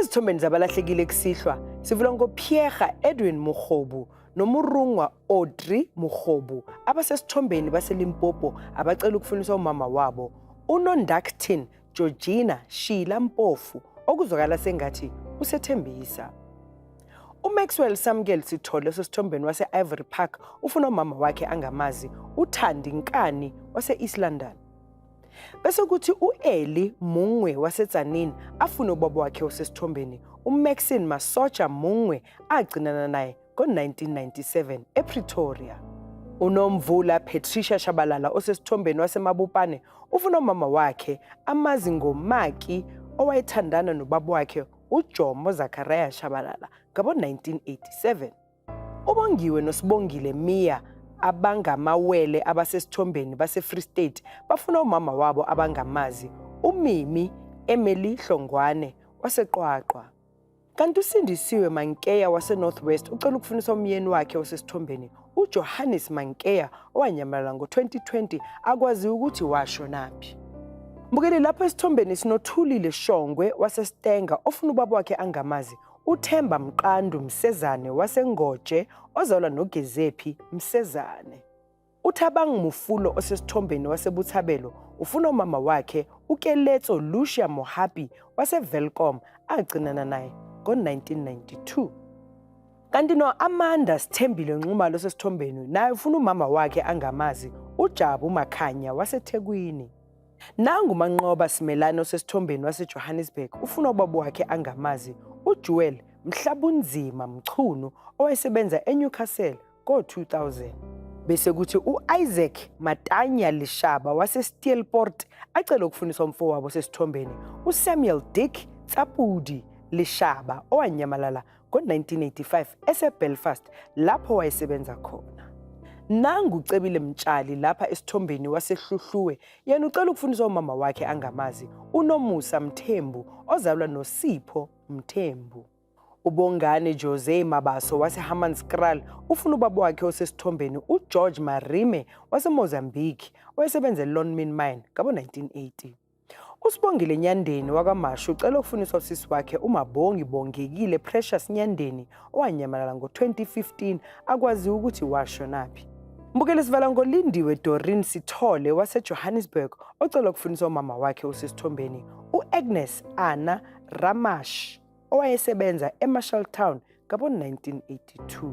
ezithombeni zabalahlekile kusihlwa sivula ngopierha edwin murhobu nomurungwa audrey murhobu abasesithombeni baselimpopo abacela ukufuniswa umama wabo unondactin georgina shila mpofu okuzwakala sengathi usethembisa umaxwell samkel sithole osesithombeni wase-ivory park ufuna umama wakhe angamazi uthandi nkani wase-east london Bese kuthi u-Eli Mungwe waseTzaneen afune ubaba wakhe osesithombeni uMaxine Masocha Mungwe agcinana naye ngo-1997 ePretoria. Unomvula Patricia Shabalala osesithombeni waseMabupane ufuna umama wakhe amazi ngomaki owayethandana nobaba wakhe uJomo Zachariah Shabalala ngabo-1987. UBongiwe noSibongile Mia abangamawele abasesithombeni baseFree State bafuna umama wabo abangamazi uMimi Emily Hlongwane waseQwaqwa. Kanti uSindisiwe Mankeya waseNorth West ucela ukufunisa umyeni wakhe osesithombeni uJohannes Mankeya owanyamalala ngo-2020 akwaziwa ukuthi washonaphi. Mbukeli lapho esithombeni sinothulile Shongwe waseStenga ofuna ubaba wakhe angamazi uThemba Mqandu Msezane waseNgoje ozalwa noGezephi Msezane. UThabang Mufulo osesithombeni waseButhabelo ufuna umama wakhe uKeletso Lucia Mohapi waseVelcom agcinana naye ngo-1992. Kanti no-Amanda Sithembile Nxumalo osesithombeni naye ufuna umama wakhe angamazi uJabu Makhanya waseThekwini. Nangu uManqoba Simelane osesithombeni waseJohannesburg ufuna ubaba wakhe angamazi uJewel Mhlabunzima Mchunu owayesebenza eNewcastle ngo-2000 bese kuthi u-Isaac Matanya Lishaba waseSteelport acele ukufundisa umfowabo osesithombeni uSamuel Dick Tsapudi Lishaba owanyamalala ngo-1985 eseBelfast lapho wayesebenza khona. Nangu uCebile Mtshali lapha esithombeni waseHluhluwe yena ucela ukufundisa umama wakhe angamazi uNomusa Mthembu ozalwa noSipho Mthembu. UBongane Jose Mabaso waseHammanskraal ufuna ubaba wakhe osesithombeni uGeorge Marime waseMozambique owayesebenza eLonmin Mine ngabo-1980. USibongile Nyandeni wakwaMashu ucela ukufuniswa usisi wakhe uMabongi Bongekile Precious Nyandeni owanyamalala ngo-2015 akwaziwa ukuthi washonaphi. Mbukeli sivala ngolindiwe Dorin Sithole waseJohannesburg ocela ukufuniswa umama wakhe usesithombeni u-Agnes Anna Ramash owayesebenza eMarshalltown ngabo-1982.